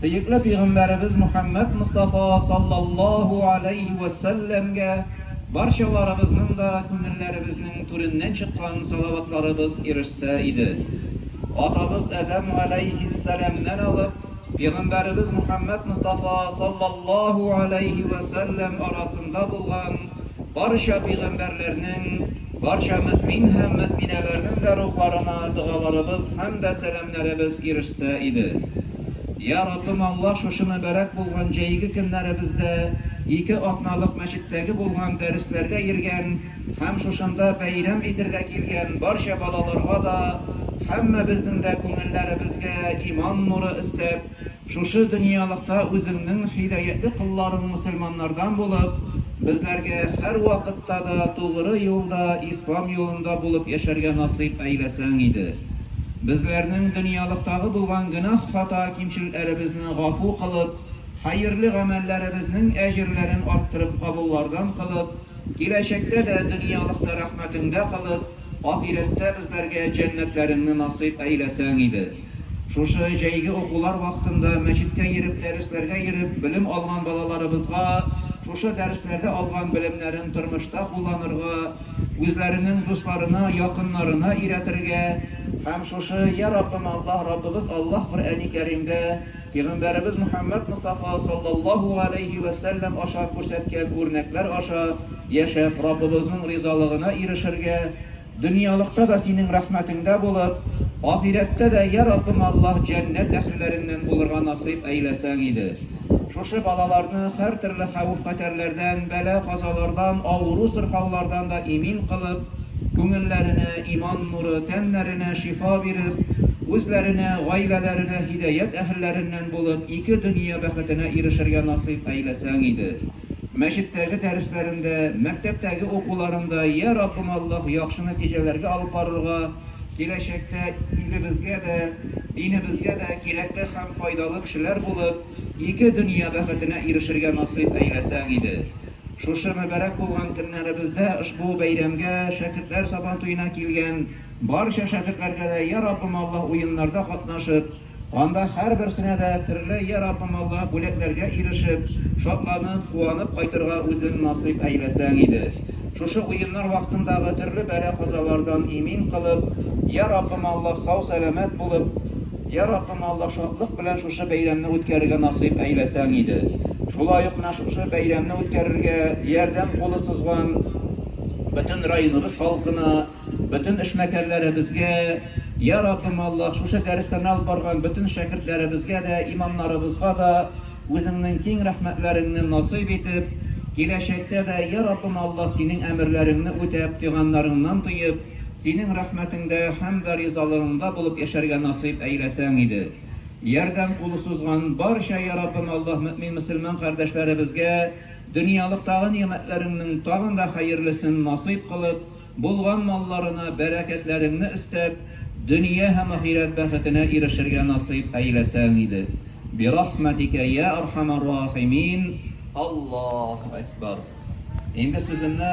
Сөекле пигамбәребез Мөхәммәд Мостафа саллаллаһу аләйһи вә сәлләмгә барчаларыбызның да күңелләребезнең түреннән чыккан салаватларыбыз ирешсә иде. Атабыз Адәм галәйһиссәламнән алып, пигамбәребез Мөхәммәд Мостафа саллаллаһу аләйһи вә сәлләм арасында булган барча пигамбәрләрнең, барча мөэмин һәм мөэминәләрнең дә рухларына догаларыбыз һәм дә сәламнәребез ирешсә иде. Йа Раббым Аллаһ шушы мөбарәк булган җәйге көннәребездә ике атналык мәчеттәге булган дәресләргә йөргән һәм шушында бәйрәм итергә килгән барча балаларга да һәммәбезнең дә күңелләребезгә иман нуры өстәп, Шушы дөньялыкта Үзеңнең һидаятле колларың мөселманнардан булып, безләргә һәрвакытта да тугры юлда, Ислам юлында булып яшәргә насыйп әйләсәң иде. Безләрнең дөньялыктагы булган гөнаһ-хата кимчелләребезне гафу кылып, хәерле гамәлләребезнең әҗерләрен арттырып кабуллардан кылып, киләчәктә дә дөньялыкта рәхмәтеңдә кылып, Ахирәттә безләргә җәннәтләреңне насыйп әйләсәң иде. Шушы җәйге укулар вакытында мәчеткә йөреп дәресләргә йөреп белем алган балаларыбызга шушы дәресләрдә алган белемнәрен тормышта кулланырга, үзләренең дусларына, якыннарына өйрәтергә һәм шушы Йә Раббым Аллаһ Раббыбыз Аллаһ Коръәни Кәримдә Пигамбәребез Мөхәммәд Мостафа салләллаһу галәйһи вә сәлләм аша күрсәткән үрнәкләр аша яшәп Раббыбызның ризалыгына ирешергә, дөньялыкта да Синең рәхмәтеңдә булып, ахирәттә дә, йә Раббым Аллаһ, җәннәт әһелләреңнән булырга насыйп әйләсәң иде. Шушы балаларны һәртөрле хәвеф-хәтәрләрдән, бәла-казалардан, авыру-сырхаулардан да имин кылып, күңелләренә иман нуры, тәннәренә шифа биреп, үзләренә, гаиләләренә һидәят әһелләреннән булып, ике дөнья бәхетенә ирешергә насыйп әйләсәң иде. Мәчеттәге дәресләрендә, мәктәптәге укуларында, йә Раббым Аллаһ яхшы нәтиҗәләргә алып барырга, киләчәктә илебезгә дә, динебезгә дә кирәкле һәм файдалы кешеләр булып, ике дөнья бәхетенә ирешергә насыйп әйләсәң иде. Шушы мөбарәк булган көннәребездә ошбу бәйрәмгә шәкертләр сабантуена килгән барча шәкертләргә дә Йә Раббым Аллаһ уеннарда катнашып, анда һәрберсенә дә төрле Йә Раббым Аллаһ бүләкләргә ирешеп, шатланып, куанып кайтырга үзең насыйп әйләсәң иде. Шушы уеннар вакытындагы төрле бәла-казалардан имин кылып, Йә Раббым Аллаһ сау-сәламәт булып, Йә, Раббым Аллаһ шатлык белән шушы бәйрәмне үткәрергә насыйп әйләсәң иде! Шулай ук менә шушы бәйрәмне үткәрергә ярдәм кулы сузган бөтен районыбыз халкына, бөтен эшмәкәрләребезгә, йә, Раббым Аллаһ шушы дәресләрне алып барган бөтен шәкертләребезгә дә, имамнарыбызга да Үзеңнең киң рәхмәтләреңне насыйп итеп, киләчәктә дә, йә, Раббым Аллаһ, Синең әмерләреңне үтәп, тыйганнарыңнан тыеп, Синең рәхмәтеңдә һәм дә ризалыгыңда булып яшәргә насыйп әйләсәң иде. Ярдәм кулы сузган барча Яраббым Аллаһ мөэмин-мөселман кардәшләребезгә дөньялыктагы нигъмәтләреңнең тагын да хәерлесен насыйп кылып, булган малларына бәрәкәтләреңне өстәп, дөнья һәм ахирәт бәхетенә ирешергә насыйп әйләсәң иде. Бирахмәтикә йә архамар рахимин. Аллаһу әкбар. Инде сүземне.